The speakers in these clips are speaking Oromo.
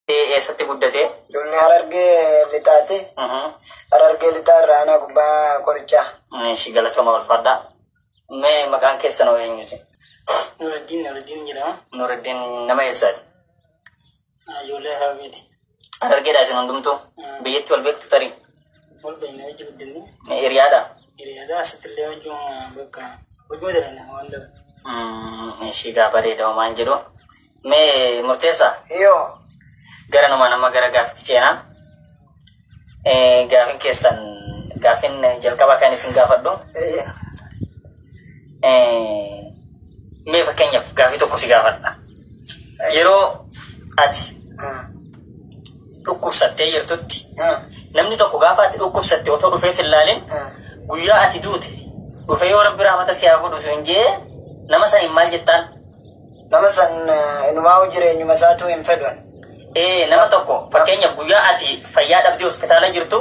Eessatti guddate? Duulli Harargee Lixaati. Harargee Lixaa irraa aanaa gubbaa qorichaa. Ishi galatoomaa ulfaadhaa. Mee maqaan keessan hoo eenyuti? Nuruddin Nuruddin jedhama. Nuruddin nama eessaati? Ijoollee Harargeeti. Harargeedha isin hundumtuu? Biyyatti wal beektu tarii? Wal beekna wajji guddinni. Hiriyaadha? Hiriyaadha asitti illee wajjin bakka hojii dalagna waan dabalu. Ishi gaa bareeda homaan jedhu. Mee murteessa Yoo. gara numaan amma gara gaaffitti ceenaa. Eh, Gaafin keessan gaafin jalqabaa kan isin gaafadhu. Eeyyee. Eh, Mee fakkeenyaaf gaafii tokko si gaafadha. Yeroo ati Hmm. dhukkubsattee jirtutti Hmm. namni tokko gaafa ati dhukkubsatte otoo dhufee si ilaalin Hmm. guyyaa ati duute dhufee yoo rabbi rahmata si haa godhu sun jee nama saniin maal jettaan Nama san inumaa'uu jireenyuma isaatuu hin fedhun. Ee nama tokko fakkeenyaaf guyyaa ati fayyaa dhabdee hospitaala jirtu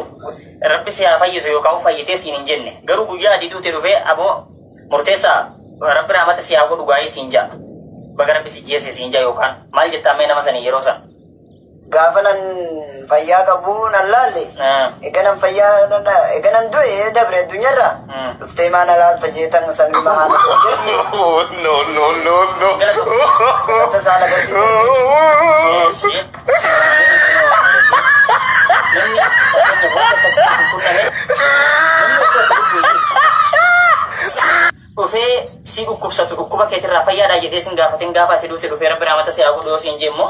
rabbi si haa fayyisu yookaan fayyitee siin hin jenne garuu guyyaa ati duute dhufee aboo murteessaa rabbi raamata si haa godhu gaa'ee siin ja'a baga rabbi si jeese siin ja'a yookaan maal jettaa mee nama sanii yeroo sana. gaafanan fayyaa qabuu nan laalle eganan fayyaa eganan du'e dabre addunyarra dhuftee maa na laalta jeetan samii mahaa na gadi no no no no galata isaa lagatti dhufee si dhukkubsatu dhukkuba keetirraa fayyaadha jedhee sin gaafatin gaafa ati duute dhufee rabbi raamata si haa godhu yoo siin jee immoo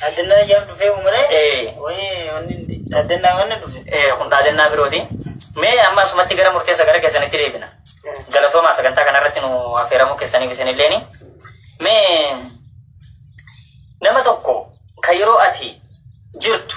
Dhaadannaa ayyaaf dhufee umaree Ee. wayii wanni dhaadannaa wanna dhufe. Eh, kun dhaadannaa birooti. Mee amma asumatti gara murteessa gara keessanitti deebina. Galatoomaa sagantaa kanarratti nu affeeramuu keessaniif isinilleeni. Mee nama tokko kan yeroo ati jirtu